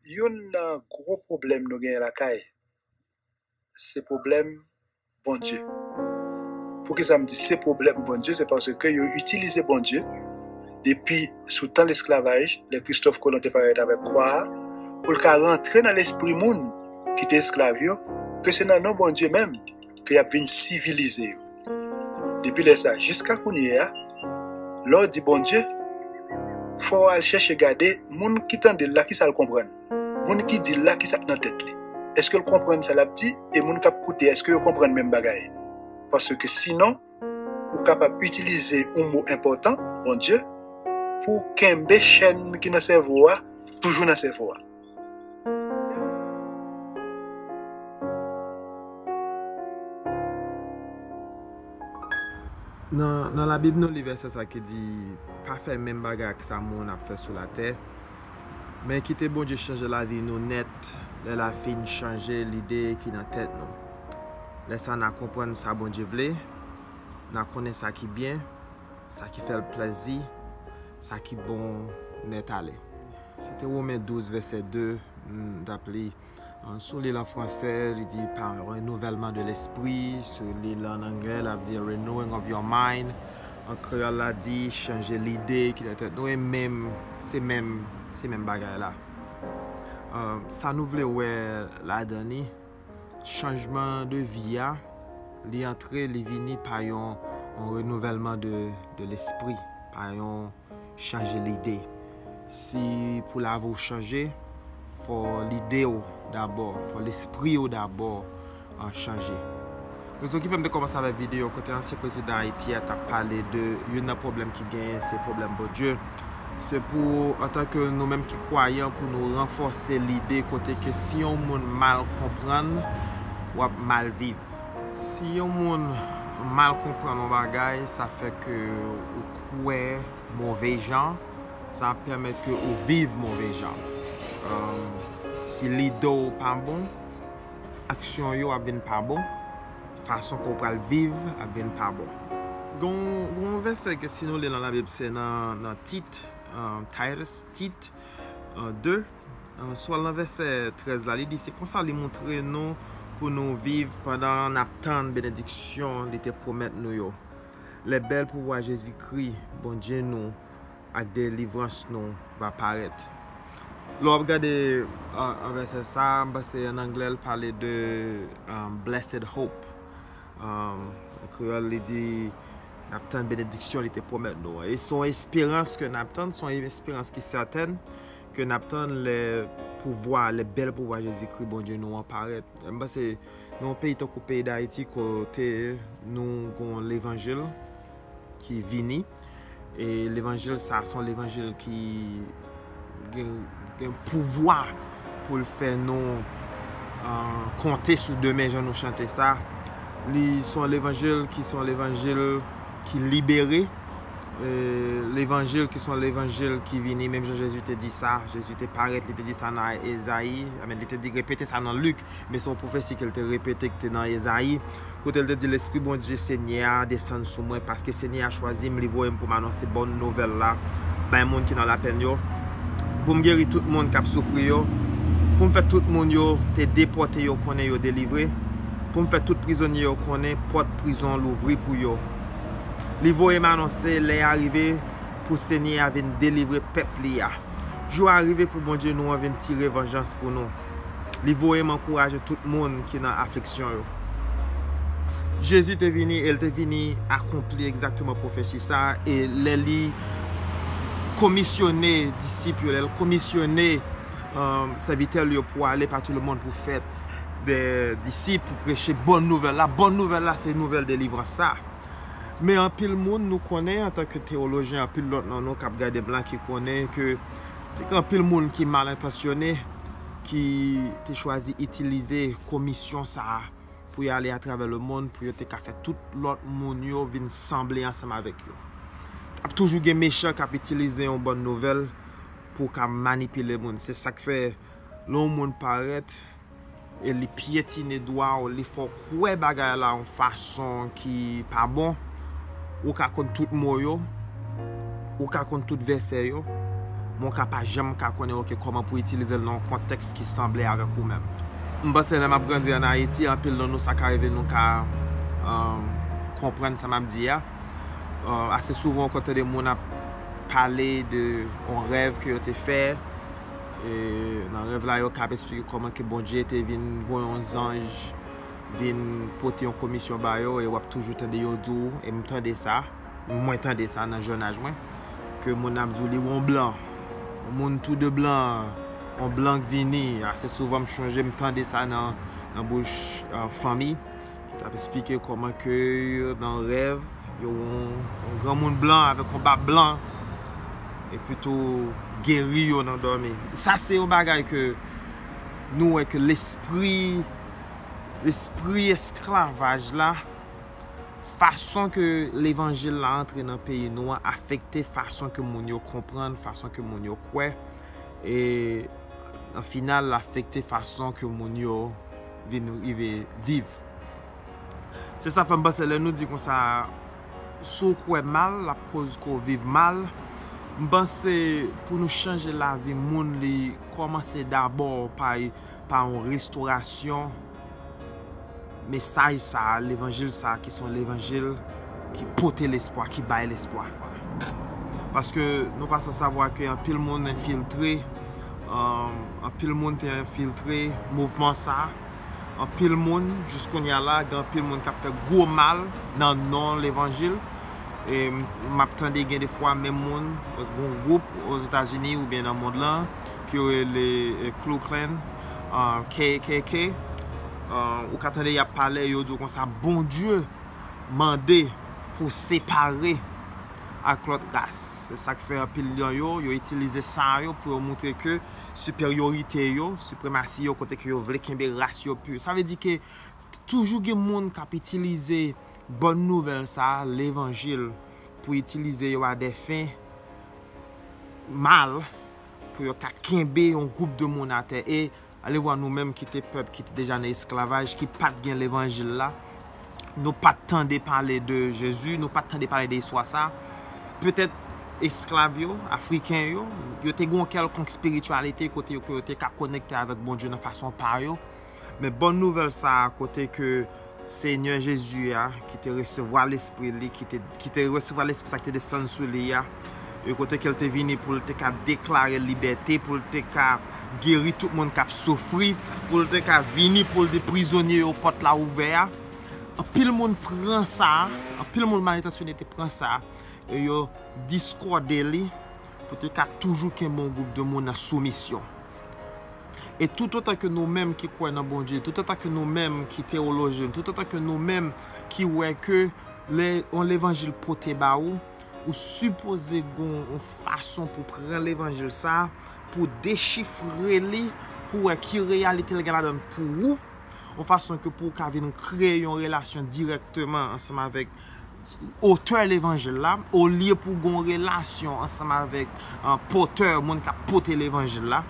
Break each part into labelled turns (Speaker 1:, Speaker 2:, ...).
Speaker 1: Youn nan gwo pwoblèm nou genyen lakay se pwoblèm Bondye. Poukisa m di se pwoblèm Bondye? Se paske yo itilize Bondye depi sou tan lesklavaj, lè Kristòf Kolon te parèt avèk kwa a, pou l ka rantre nan lespri moun ki te esklav yo, ke se nan non Bondye menm, ke y ap vin sivilize yo. Depi lè sa jiska kounye a, lè w di Bondye, fò w al chèche gade moun ki tande l la kisa l konprann, moun ki di l la kisa k nan tèt li, èske l konprann sa l ap di e moun k ap koute a èske yo konprann menm bagay. Paske sinon, ou kapab itilize yon mo enpòtan, Bondye, pou w kenbe chèn ki nan sèvo a toujou nan sèvo a.
Speaker 2: Nan la bib nou li vèsè sa ki di pa fè menm bagay ak sa moun ap fè sou la tè men kite Bondye chanje la vi nou nèt lè la fin chanje lide ki nan tèt nou lè sa na konprann sa Bondye vle na konnen sa ki byen sa ki fèl plèzi sa ki bon nètale. Se te Women 12 vèsè 2 m t ap li. M sou li l an franse, li di pa renouvèlman de lespri, sou li l an angle l ap di a renewing of your mind, an kreyòl la di chanje lide ki nan tèt nou e menm se menm se menm bagay la. Sa nou vle wè ladan li? Chanjman de vi a, li antre, li vini pa yon renouvèlman de lespri, pa yon chanje lide. Si pou lavi w chanje, fò lide w dabò, fò lespri w dabò chanje. Rezon ki fè m te kòmanse avèk videyo kote ansyen prezidan Ayiti a t ap pale de youn nan pwoblèm ki genyen se pwoblèm Bondye, se pou antanke nou menm ki kwayan pou nou ranfòse lide kote ke si yon moun mal konprann w ap mal viv. Si yon moun mal konprann yon bagay sa fè ke ou kwè move jan, sa ap pèmèt ke ou viv move jan. Si lide w pa bon. aksyon yo ap vin pa bon, fason ke w pral viv ap vin pa bon. Gen yon vèsè ke si nou li nan labib se nan Tit, Titus, Tit, 2, sou al nan vèsè 13 la li di se konsa li moutre nou pou nou viv pandan nap tann benediksyon li te pwomèt nou yo, lè bèl pouvwa Jezikri, Bondye nou, ak delivrans nou va parèt. Lè w ap gade vèsè sa a, m panse ann anglè l pale de blessed hope. An kreyòl li di, N ap tann benediksyon li te pwomèt nou an. E se yon esperans ke n ap tann, se yon esperans ki sèten ke n ap tann lè pouvwa, lè bèl pouvwa Jezikri Bondye nou an parèt. M panse nan yon peyi tankou peyi Dayiti kote nou gen levanjil, ki vini e levanjil sa son levanjil ki gen pouvwa pou l fè nou konte sou demen jan nou chante sa li son levanjil ki son levanjil ki libere levanjil ki son levanjil ki vini menm jan jezi te di sa jezi te paret li te di sa nan ezayi li te repete sa nan lik men se yon pwofesi ke l te repete ki te nan Ezayi, kote l te di, Lespri Bondye Senyè a desann sou mwen, paske Senyè a chwazi m, li voye m pou m anonse bon nouvèl la bay moun ki nan lapenn yo, pou m geri tout moun k ap soufri yo, pou m fè tout moun yo te depòte yo konnen yo delivre, pou m fè tout prizonye yo konnen pòt prizon louvri pou yo. Li voye m anonse lè a rive pou Senyè a vin delivre pèp li a. Jou a rive pou Bondye nou an vin tire vanjans pou nou. Li voye m ankouraje tout moun ki nan afliksyon yo. Jezi te vini e l te vini akonpli egzakteman pwofesi sa a, e lè li komisyone disip yo, lè l komisyone sèvitè l yo pou ale pa tou lemonn pou fè de disip, pou preche bon nouvèl la, bon nouvèl la se nouvèl delivrans sa a. Men anpil moun nou konnen antanke tewolojyen, anpil lòt nan nou k ap gade m la ki konnen ke Te gen anpil moun ki mal entansyone ki te chwazi itilize komisyon sa a pou y ale atravè lemonn pou yo te ka fè tout lòt moun yo vin sanble ansanm avèk yo. T ap toujou gen mechan k ap itilize yon bòn nouvèl pou ka manipile moun. Se sa k fè lè yon moun parèt e li pyetine dwa w, li fè w kwè bagay la yon fason ki pa bon, ou ka konn tout mo yo, ou ka konn tout vèsè yo, men w ka pa janm ka konnen ok kòman pou itilize l nan yon kontèks ki sanble avèk ou menm. M panse lè m ap grandi an Ayiti, anpil nan nou sa ka rive nou ka konprann sa m ap di a. Ase souvan ou konn tande moun ap pale de yon rèv ke yo te fè, E nan rèv la yo kap esplike kòman ke Bondye te vin voye yon zanj vin pote yon komisyon ba yo e wap toujou tande yo di w e m tande sa, mwen tande sa nan jènaj mwen ke moun ap di w li wè yon blan yon moun tou de blan yon blan k vini ase souvan m chonje m tande sa nan bouch fanmi. Ki tap esplike kòman ke nan rèv yo wè yon granmoun blan avèk yon bab blan epi tou geri yo nan dòmi. Sa se yon bagay ke nou wè ke lespri lespri esklavaj la fason ke levanjil la antre nan peyi nou an afekte fason ke moun yo konprann, fason ke moun yo kwè e an final l afekte fason ke moun yo vin rive viv. Se sa fè m panse lè nou di konsa si w kwè mal l ap koz ke w viv mal, m panse pou nou chanje lavi moun li kòmanse dabò pa yon restorasyon mesaj sa a, levanjil sa a ki se yon levanjil ki pote lespwa, ki bay lespwa. Paske nou pa san savwa ke anpil moun enfiltre. Anpil moun te enfiltre mouvman sa, anpil moun jis kounya la gen anpil moun kap fè gwo mal nan non levanjil e map tande gen defwa menm moun oswa yon gwoup ozetazini oubyen nan mond lan ke yo rele Klu Klan, KKK ou ka tande yap pale yo di w konsa Bondye mande pou separe. ak lòt ras. Se sa k fè anpil lyon yo, yo itilize san yo pou yo moutre ke siperyorite yo, sipremasi yo kote ke yo vle kenbe ras yo pur. Sa vle di ke toujou gen moun k ap itilize bòn nouvèl sa a, levanjil, pou itilize yo a dè fen mal, pou yo ka kenbe yon gwoup de moun atè. E Alevwa nou menm ki te pèp ki te deja nan esklavaj, ki pa t gen levanjil la, nou pa t tande pale de Jezi, nou pa t tande pale de istwa sa. Petèt esklav yo, Afriken yo, yo te gen yon kèlkonk espirityalite kote yo te ka konekte avèk Bondye nan fason pa yo. Men bòn nouvèl sa a kote ke Senyè Jezi a, ki te resevwa Lespri li, ki te resevwa Lespri sa ki te desann sou li a, e kote ke l te vini pou l te ka deklare libète, pou l te ka geri tout moun k ap soufri, pou l te ka vini pou l di prizonye yo pòt la ouvè a, anpil moun pran sa, anpil moun mal entansyone te pran sa, e yo diskòde li. pou te ka toujou kenbe yon gwoup de moun nan soumisyon. E toutotan ke nou menm ki kwè nan Bondye, toutotan ke nou menm ki tewolojyen, toutotan ke nou menm ki wè ke lè yon levanjil pote ba ou, ou sipoze gen yon fason pou pran levanjil sa, pou dechifre li, pou wè ki reyalite li gen ladan l pou ou, yon fason ke pou ou ka vin kreye yon relasyon dirèkteman ansanm avèk otè levanjil la, olye pou gon relasyon ansanm avèk pòtè, moun kap pote levanjil la,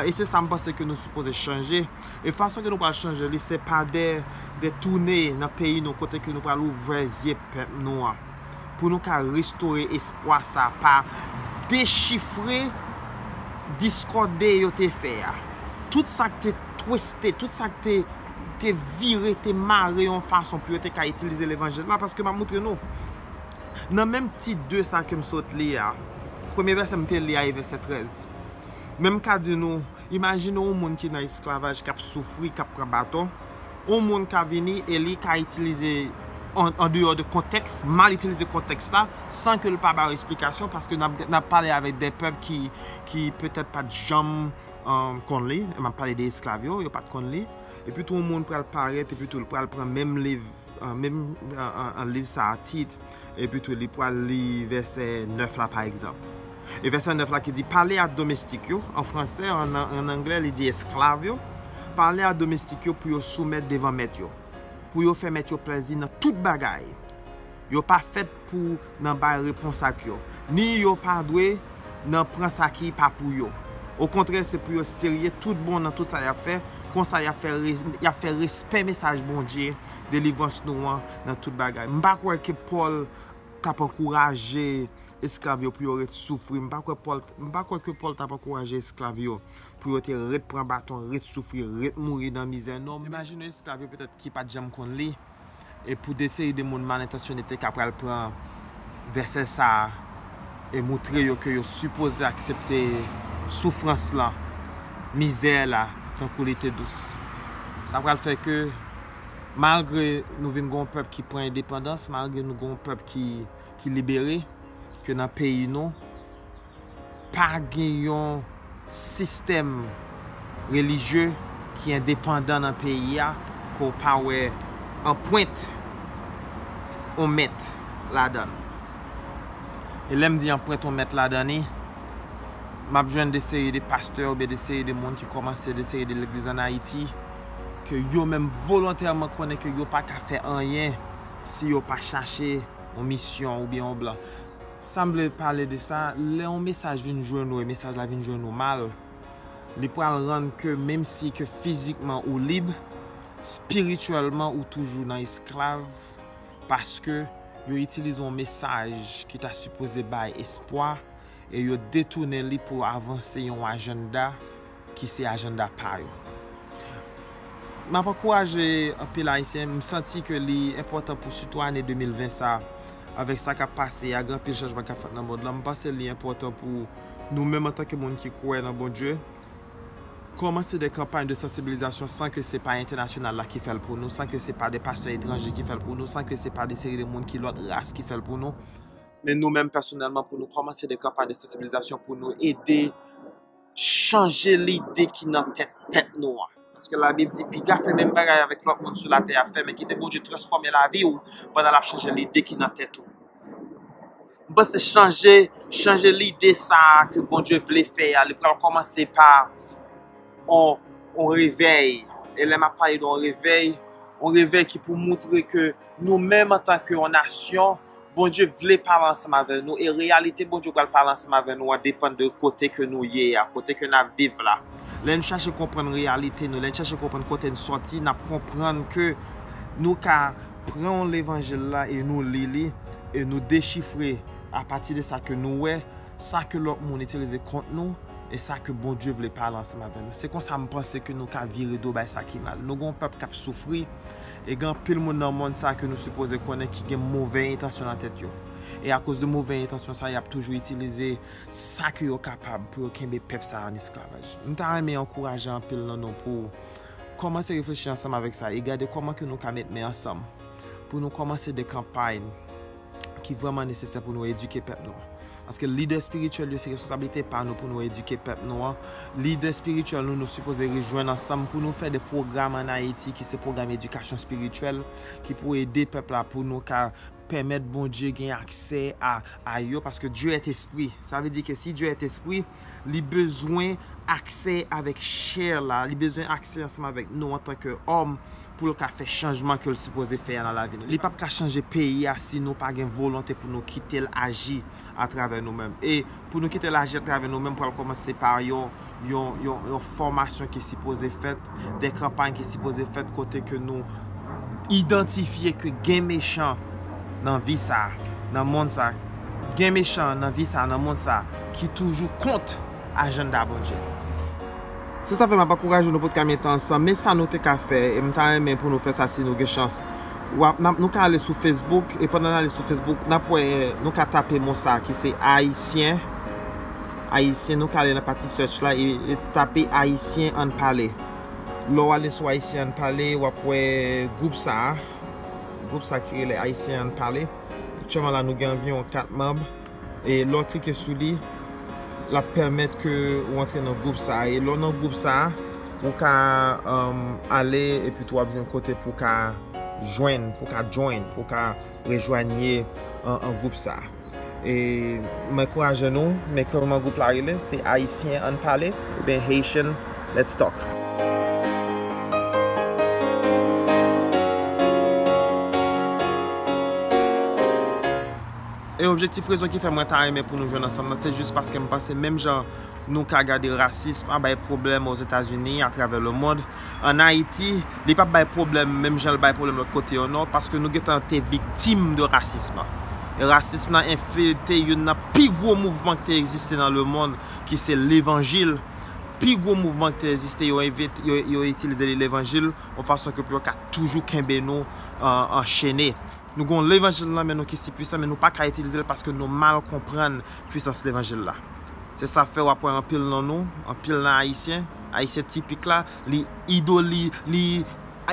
Speaker 2: e se sa m panse ke nou sipoze chanje, e fason ke nou pral chanje li se pa de toune nan peyi nou kote ke nou pral ouvè zye pèp nou an, pou nou ka restore espwa sa pa dechifre diskòde yo te fè a, tout sak te. twiste, tout sa k te te vire, te mare yon fason pou yo te ka itilize levanjil la, paske m ap moutre nou, nan menm tit 2 sa ke m sot li a, premye vèsè m te li a e vèsè 13, men m ka di nou, imajine yon moun ki nan esklavaj, k ap soufri, k ap pran baton, yon moun ka vini e li ka itilize, an deyò de kontèks, mal itilize kontèks la, san ke l pa ba yo esplikasyon, paske n ap pale avèk de pèp ki petèt pa t janm. konn li, m ap pale de esklav yo, yo pa t konn li, epi tou yon moun pral parèt epi tou l pral pran menm liv, menm liv sa a tit, epi tou li pral li vèsè 9 la pa egzanp. E vèsè 9 la ki di, pale a domestik yo, an fransè, an anglè li di esklav yo, pale a domestik yo pou yo soumèt devan mèt yo, pou yo fè mèt yo plèzi nan tout bagay, Yo pa fèt pou nan bay repons ak yo, ni yo pa dwe nan pran sa ki pa pou yo. Okontrè, se pou yo serye toutbon nan tout sa y ap fè, konsa y ap fè respè mesaj Bondye delivrans nou an nan tout bagay. M pa kwè ke Pòl t ap ankouraje esklav yo pou yo ret soufri. M pa kwè ke Pòl t ap ankouraje esklav yo pou yo te ret pran baton, ret soufri, ret mouri nan mizè. Non, m imajine esklav yo petèt ki pa t janm konn li. e pou de seri de moun mal entansyone te ka pral pran vèsè sa a e moutre yo ke yo sipoze aksepte soufrans lan, mizè la tankou li te dous. Sa pral fè ke malgre nou vin gen yon pèp ki pran endepandans, malgre nou gen yon pèp ki libere, ke nan peyi nou, Pa gen yon sistèm relijye ki endepandan nan peyi a ke w pa wè anpwent on mèt ladan l. E lè m di anpwent on mèt ladan li, m ap jwenn de seri de pastè oubyen de seri de moun ki kòmanse de seri de legliz ann Ayiti ke yo menm volontèman konnen ke yo pa ka fè anyen si yo pa chache on misyon oubyen on blan. Sam vle pale de sa, lè yon mesaj vin jwenn ou e mesaj la vin jwenn ou mal, li pral rann ke menm si ke fizikman ou lib, spirityèlman ou toujou nan esklav paske yo itilize yon mesaj ki ta sipoze bay espwa e yo detounen li pou avanse yon ajanda ki se ajanda pa yo. M ap ankouraje anpil Ayisyen, m santi ke li enpòtan pou sitou ane 2020 sa, avèk sa k ap pase a, gen anpil chanjman k ap fèt nan mond lan, m panse li enpòtan pou nou menm antanke moun ki kwè nan Bondye, kòmanse de kanpay de sansibilizasyon san ke se pa entènasyonal la ki fè l pou nou, san ke se pa de pastè etranje ki fè l pou nou, san ke se pa de seri de moun ki lòt ras ki fè l pou nou, men nou menm pèsonèlman pou nou kòmanse de kanpay de sansibilizasyon pou nou ede. chanje lide ki nan tèt pèp nou an. Paske labib di piga fè menm bagay avèk lòt moun sou latè a fè men kite Bondye transfòme lavi ou pandan lap chanje lide ki nan tèt ou. M panse chanje chanje lide sa ke Bondye vle fè a li pral kòmanse pa on on revèy e lè map pale de on revèy on revèy ki pou moutre ke nou menm antanke on nasyon Bondye vle pale ansanm avè nou e reyalite Bondye pral pale ansanm avè nou an depann de kote ke nou ye a, kote ke nap viv la. Lè n chache konprann reyalite nou, lè n chache konprann kote n sòti, nap konprann ke nou ka pran levanjil la e nou li li e nou dechifre apati de sa ke nou wè, sa ke lòt moun itilize kont nou e sa ke Bondye vle pale ansanm avè nou. Se konsa m panse ke nou ka vire do bay sa ki mal. Nou gen yon pèp kap soufri. E gen anpil moun nan mond sa ke nou sipoze konnen ki gen movè entansyon nan tèt yo. E akoz de movè entansyon sa yap toujou itilize sa ke yo kapab pou yo kenbe pèp sa an esklavaj. M ta renmen ankouraje anpil nan nou pou kòmanse reflechi ansanm avèk sa e gade kòman ke nou ka met men ansanm pou nou kòmanse de kanpay. ki vrèman nesesè pou nou edike pèp nou an. Paske lidè espirityèl yo se responsablite pa nou pou nou edike pèp nou an. Lidè espirityèl nou, nou sipoze rejwenn ansanm pou nou fè de pwogram ann Ayiti ki se pwogram edikasyon espirityèl ki pou ede pèp la pou nou ka pèmèt Bondye gen aksè a yo paske Dieu est esprit. Sa vle di ke si Dieu est esprit, li bezwen aksè avèk chè la, li bezwen aksè ansanm avèk nou antan ke òm pou l ka fè chanjman ke l sipoze fè a nan lavi nou. Li pap ka chanje peyi a si nou pa gen volonte pou nou kite l aji atravè nou menm. E pou nou kite l aji atravè nou menm pral kòmanse pa yon fòmasyon ki sipoze fèt de kanpay ki sipoze fèt kote ke nou idantifye ke gen mechan nan vi sa, nan mond sa, gen mechan nan vi sa, nan mond sa, ki toujou kont ajanda Bondye. Se sa fè map ankouraje nou pou nou mete ansanm, men sa nou te ka fè, e m ta renmen pou nou fè sa si nou gen chans, nou ka ale sou Facebook, e pandan n ale sou Facebook, nap wè, nou ka tape mo sa ki se Ayisyen. Ayisyen nou ka ale nan pati search la e tape Ayisyen ann pale. Lè w ale sou Ayisyen ann pale w ap wè gwoup sa a, gwoup sa a ki rele Ayisyen ann pale. Aktyèlman la nou gen anviwon 4 manb e lè w klike sou li l ap pèmèt ke ou antre nan gwoup sa a e lè w nan gwoup sa a ou ka ale epi tou w ap jwenn kote pou w ka jwenn, pou w ka join, pou w ka rejwanye an gwoup sa a. E m ankouraje nou, men kman gwoup la rele, se Ayisyen ann pale oubyen Haitian let's talk. E objektif rezon ki fè mwen ta renmen pou nou jwenn ansanm nan se jis paske m panse menm jan nou ka gade rasism an bay pwoblèm Ozetazini, atravè lemond, an Ayiti, li pap bay pwoblèm menm jan l bay pwoblèm lòt kote yo non, paske nou gentan te viktim de rasism lan. E rasism lan enfiltre youn nan pi gwo mouvman ki te egziste nan lemonn, ki se levanjil. Pi gwo mouvman ki te egziste, yo itilize li levanjil, yon fason ke pou yo ka toujou kenbe nou anchene. Nou gen yon levanjil nan men nou ki si pwisan, men nou pa ka itilize l paske nou mal konprann pwisans levanjil la. Se sa fè w ap wè anpil nan nou, anpil nan Ayisyen, Ayisyen tipik la, li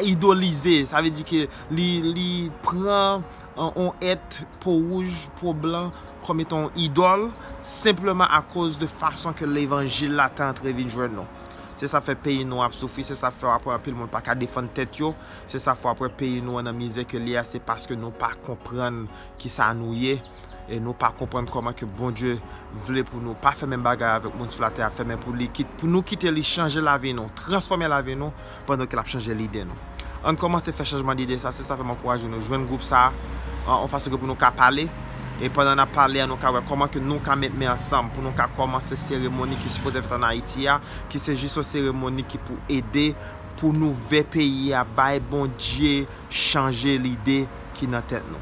Speaker 2: idolize, sa vle di ke li pran yon èt po wouj, po blan kòm etan yon idòl, senpleman akoz de fason ke levanjil la te antre vin jwenn nou. Se sa k fè peyi nou an ap soufri, se sa k fè w ap wè anpil moun pa ka defann tèt yo, se sa k fè w ap wè peyi nou an nan mizè ke li a, se paske nou pa konprann kisa nou ye. e nou pa konprann kòman ke Bondye vle pou nou pa fè menm bagay avèk moun sou latè a fè men pou li kit pou nou kite li chanje lavi nou transfòme lavi nou pandan ke lap chanje lide nou ann kòmanse fè chanjman dide sa se sa fèm ankouraje nou jwenn gwoup sa an fason ke pou nou ka pale e pandan nap pale a nou ka wè kòman ke nou ka met men ansanm pou nou ka kòmanse seremoni ki sipoze fèt an Ayiti a ki se jis yon seremoni ki pou ede pou nou vè peyi a bay Bondye chanje lide ki nan tèt nou.